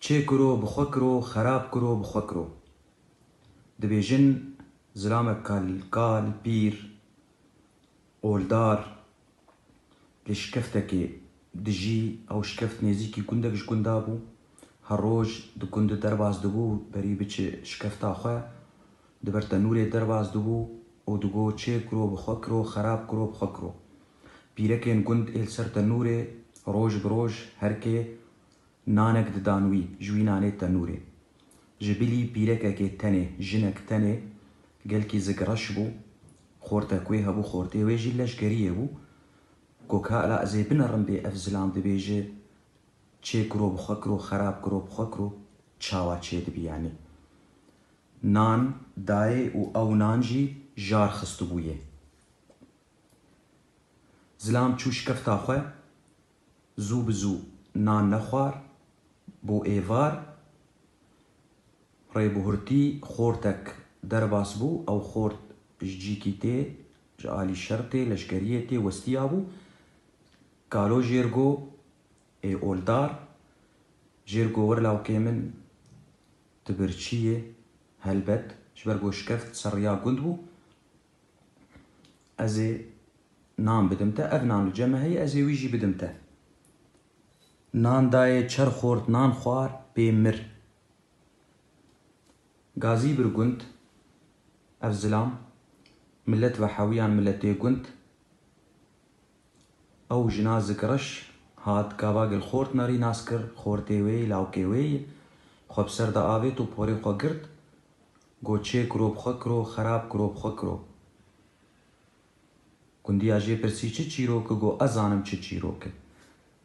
Çê kiro bi xwe kiro, xerab kiro bi xwe kiro. Dibêjin zilamek ka li kal, pîr, oldar li şikeftekê dijî, ew şikeft nêzîkî gundek ji gunda bû, her roj di gundu derbas dibû berî biçi şikefta xwe, di ber tenûrê derbas dibû û digot çê kiro bi xwe kiro, xerab kiro bi xwe kiro. Pîrekên gund ê li ser tenûrê roj bi roj herkê Nanek didan wî, ji wî nanê tenûrê. Ji bilî pîrekekê tenê, jinek tenê, gelkî zik reş bû, xorte kuê hebû xortê wê jî leşgeriyê bû. Got ka ela ez ê binerim bê ev zilam dibêje, Çê kiro bi xwe kiro, xerab kiro bi xwe kiro, çawa çê dibî yanî. Nan dayê û ew nan jî jar xistibûyê. Zilam çû şikefta xwe, Zû bi zû nan nexwar, bo êvar rê bi hurtî xortek derbas bû. Ew xort ji cîkî tê, ji alî şertê leşkeriyê tê westiya bû. Kalo Jêrgo, Ê oldar, Jêrgo wir lawkê min, tu birçî yê, helbet, ji ber ku şikeft serriya gund bû, Ez ê nan bidim te. Ev nan li cem e heye ez ê wî jî bidim te. Nan dayê çer xort nan xwar pê mir. Gazî bir gund ev zilam milet ve hewiyan miletê gund. Ew jina zik reş hat gava gil xort nerî nas kir xortê wê yî lawkê wê yî xwe bi ser de avêt û porê xwe girt. Go çê kiro bi xwe kiro xerab kiro bi xwe kiro. Gundiya jê pirsî çi çîrok i go ez zanim çi çîrok i.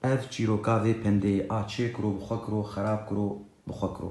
Ev çîroka vê pendeyê a çê kiro bi xwe kiro xerab kiro bi xwe kiro.